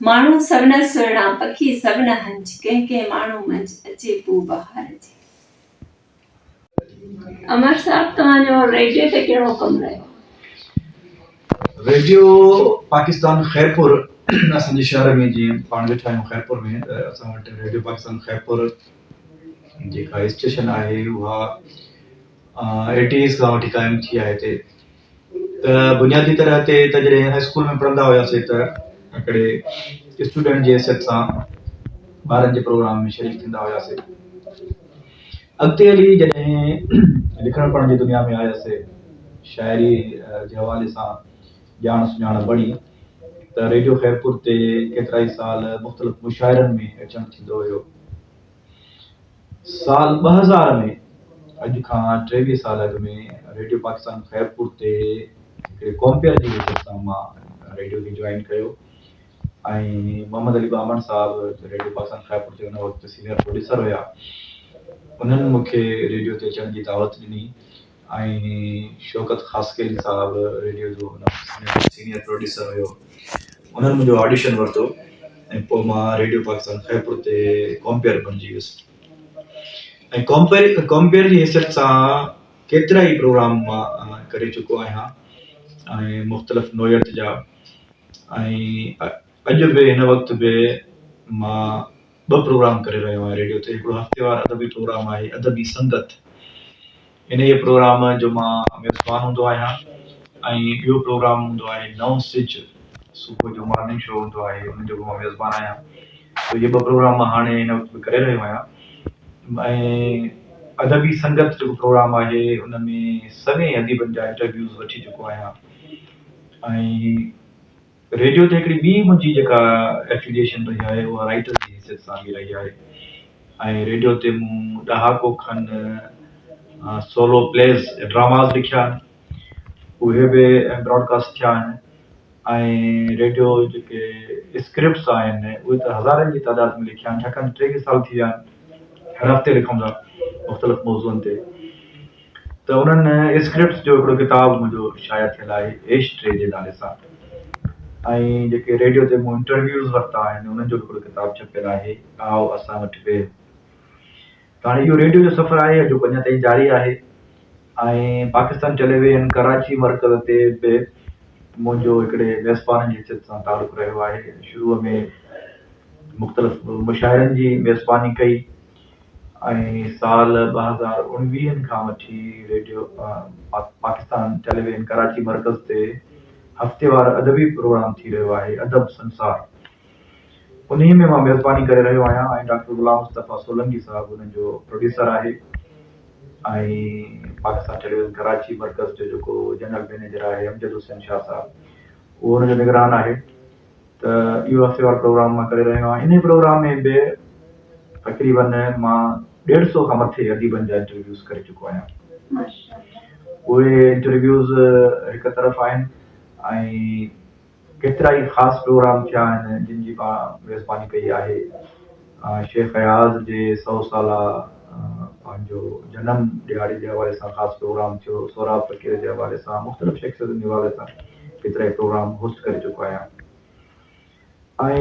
ماڻهو سوڻا سهڻا، پکي سوڻا هنج، ڪنهن ڪنهن ماڻهو منجهه، اچي پوء بهار جي. امر صاحب توهان جو ريڊيو تي ڪهڙو ڪم رهيو آهي؟ ريڊيو پاڪستان خيرپور اسان جي شهر ۾ جيئن پاڻ ويٺا آهيون خيرپور ۾ ته اسان وٽ ريڊيو پاڪستان خيرپور جيڪا اسٽيشن آهي اها ايٽيز کان وٺي قائم ٿي آهي هتي ته بنيادي طرح تي ته جڏهن هاء اسڪول ۾ پڙهندا هياسين ته هڪڙي اسٽوڊنٽ جي حيثيت سان ٻارن جي پروگرام ۾ شريڪ ٿيندا هياسين. اڳتي هلي جڏهن لکڻ پڙهڻ جي دنيا ۾ آياسين، شاعري جي حوالي سان ڄاڻ سڃاڻ بڻي ته ريڊيو خيرپور تي ڪيترائي سال مختلف مشاعرن ۾ اچڻ ٿيندو هيو. سال ٻه هزار ۾ اڄ کان ٽيويهه سال اڳ ۾ ريڊيو پاڪستان خيرپور تي هڪڙي ڪومپيئر جي حيثيت سان مان ريڊيو کي جوائن ڪيو ۽ محمد علي ٻامڻ صاحب ريڊيو پاڪستان خيرپور تي ان وقت سينئر پروڊيوسر هيا انهن مون کي ريڊيو تي اچڻ جي دعوت ڏني ۽ شوڪت خاصخيلي صاحب ريڊيو جو ان وقت جو سينيئر پروڊيوسر هيو انهن منهنجو آڊيشن ورتو ۽ پوء مان ريڊيو پاڪستان خيرپور تي ڪامپيئر بڻجي ويس ۽ ڪامپيئر ڪامپيئر جي حيثيت سان ڪيترا ئي پروگرام مان ڪري چڪو آهيان ۽ مختلف نوعيت جا ۽ اڄ به هن وقت به مان ٻه پروگرام ڪري رهيو آهيان ريڊيو تي هڪڙو هفتيوار ادبي پروگرام آهي ادبي سنگت انهيء پروگرام جو مان ميزبان هوندو آهيان ۽ ٻيو پروگرام هوندو آهي نئون سج صبح جو مارننگ شو هوندو آهي ان جو به مان ميزبان آهيان سو اهي ٻه پروگرام مان هاڻي هن وقت به ڪري رهيو آهيان ۽ ادبي سنگت جيڪو پروگرام آهي ان ۾ سوين اديبن جا انٽرويوز وٺي چڪو آهيان ۽ ريڊيو تي هڪڙي ٻي منهنجي جيڪا ائفليئيشن رهي آهي اها رائيٽر جي حيثيت سان به رهي آهي ۽ ريڊيو تي مون ڏهاڪو کن سولو پليز ۽ ڊراماز لکيا آهن اهي به براڊڪاسٽ ٿيا آهن ۽ ريڊيو جيڪي اسڪرپٽس آهن اهي ته هزارن جي تعداد ۾ لکيا آهن ڇاڪاڻ ٽيوي سال ٿي ويا آهن هر هفتي لکون ٿا مختلف موضوعن تي ته انهن اسڪرپٽس جو هڪڙو ڪتاب منهنجو شايع ٿيل آهي ايش ٽري جي نالي سان ۽ جيڪي ريڊيو تي مون انٽرويوز ورتا آهن انهن جو به هڪڙو ڪتاب ڇپيل آهي آء اسان وٽ ويهه ته هاڻي اهو ريڊيو جو سفر آهي اڄوڪو اڃا تائين جاري آهي ۽ پاڪستان ٽيلي ويزن ڪراچي مرڪز تي به منهنجو هڪڙي ميزبان جي حيثيت سان تعلق رهيو آهي شروع ۾ مختلف مشاعرن جي ميزباني ڪئي ۽ سال ٻه هزار اڻويهه کان وٺي ريڊيو پاڪستان ٽيليويزن ڪراچي مرڪز تي هفتيوار ادبي پروگرام ٿي رهيو آهي ادب سنسار انهي ۾ مان ميزباني ڪري رهيو آهيان ۽ ڊاڪٽر غلام مصطفيٰ سولنگي صاحب ان جو پروڊيوسر آهي ۽ پاڪستان ٽيليويزن ڪراچي مرڪز جو جيڪو جنرل مئنيجر آهي امجد حسين شاهه صاحب اهو ان جو نگران آهي ته اهو هفتي وار پروگرام مان ڪري رهيو آهيان انهي پروگرام ۾ به تقريبن مان ڏيڍ سئو کان مٿي اديبن جا انٽرويوز ڪري چڪو آهيان اهي انٽرويوز هڪ طرف آهن ۽ ڪيترا ئي خاص پروگرام ٿيا آهن جن جي مان ميزباني ڪئي آهي شيخ اياز جي سئو سالا پنهنجو جنم ڏهاڙي جي حوالي سان خاص پروگرام ٿيو، سهراب فقير جي حوالي سان مختلف شخصيتن جي حوالي سان ڪيترائي پروگرام هوسٽ ڪري چڪو آهيان ۽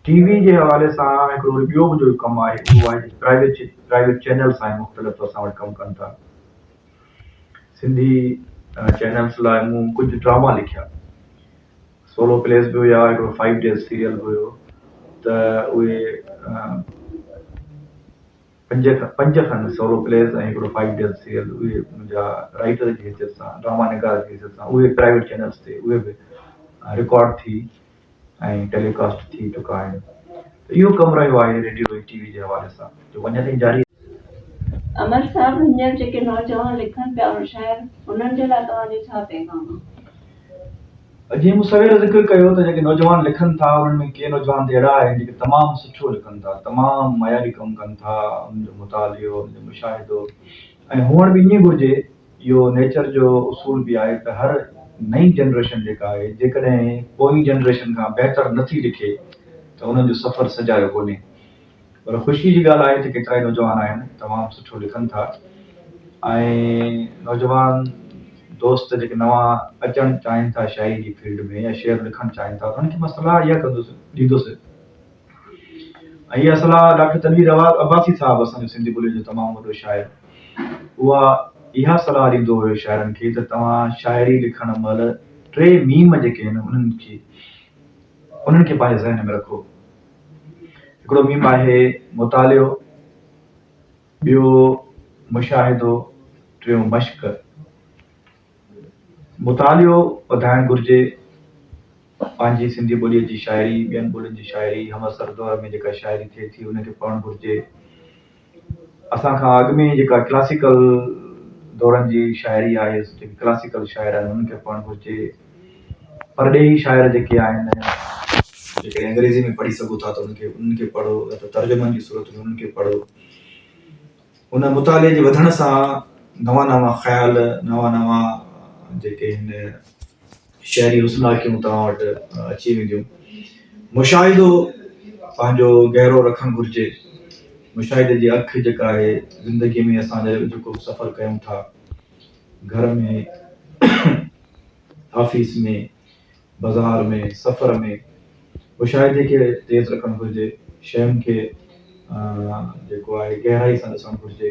ٽي وي جي حوالي سان هڪڙو وري ٻيو به جو ڪم آهي اهو آهي پرائيويٽ پرائيويٽ چينلس آهن مختلف اسان وٽ ڪم ڪن ٿا سنڌي چينلس لاء مون ڪجهه ڊراما لکيا. سولو پليز به هيا هڪڙو فائيو ڊيز سيريل به هيو ته اهي پنج پنج کن سولو پليز ۽ هڪڙو فائيو ڊيز سيريل اهي منهنجا رائٽر جي حيثيت سان ڊراما نگار جي حيثيت سان اهي پرائيويٽ چينلز تي اهي به رڪارڊ ٿي ۽ ٽيليڪاسٽ ٿي چڪا آهن ته اهو ڪم رهيو آهي ريڊيو ۽ ٽي وي جي حوالي سان جو اڃا تائين جاري امر صاحب هينئر جيڪي نوجوان لکن پيا ان شعر انهن جي لاء توهان جو ڇا پيغام آهي؟ جيئن مون سوير ذڪر ڪيو ته جيڪي نوجوان لکن ٿا انهن ۾ ڪي نوجوان ته اهڙا آهن جيڪي تمام سٺو لکن ٿا تمام معياري ڪم ڪن ٿا انهن جو مطالعو انهن جو مشاهدو ۽ هئڻ به ائين گهرجي اهو نيچر جو اصول به آهي ته هر نئين جنريشن جيڪا آهي جيڪڏهن پوئين جنريشن کان بهتر نٿي لکي ته انهن جو سفر سجايو ڪونهي پر خوشي جي ڳالهه آهي ته ڪيترائي نوجوان آهن تمام سٺو لکن ٿا ۽ نوجوان دوست جيڪي نوان اچڻ چاهين ٿا شاعري جي فيلڊ ۾ يا شعر لکڻ چاهين ٿا انهن کي مان صلاح اها ڪندس ڏيندس ۽ اها صلاح ڊاڪٽر تنوير عباسي صاحب اسان جو سنڌي ٻولي جو تمام وڏو شاعر اها اها صلاح ڏيندو هيو شاعرن کي ته توهان شاعري لکڻ مهل ٽي ميم جيڪي آهن انهن کي انهن کي پنهنجي ذهن ۾ رکو هڪڙو ميم آهي، مطالعو، ٻيو مشاهدو، ٽيون مشق. مطالعو وڌائڻ گهرجي، پنهنجي سنڌي ٻوليء جي شاعري، ٻين ٻولين جي شاعري، همعصر دور ۾ جيڪا شاعري ٿئي ٿي، ان کي پڙهڻ گهرجي. اسان کان اڳ ۾ جيڪا ڪلاسيڪل دورن جي شاعري آهي جيڪي ڪلاسيڪل شاعر آهن انهن کي پڙهڻ گهرجي پرڏيهي شاعر جيڪي آهن جيڪي انگريزي ۾ پڙهي سگهو ٿا ته انهن کي انهن کي پڙهو يا ته ترجمن جي صورت ۾ انهن کي پڙهو ان مطالعي جي وڌڻ سان نوان نوان خيال نوان نوان جيڪي هن شعري حسناڪيون توهان وٽ اچي وينديون. مشاهدو پنهنجو گهرو رکڻ گهرجي. مشاهدي جي اک جيڪا آهي زندگي ۾ اسان جيڪو به سفر ڪيون ٿا گهر ۾ آفيس ۾ بازار ۾ سفر ۾ مشاهدي کي تيز رکڻ گهرجي شين کي جيڪو آهي گهرائي سان ڏسڻ گهرجي.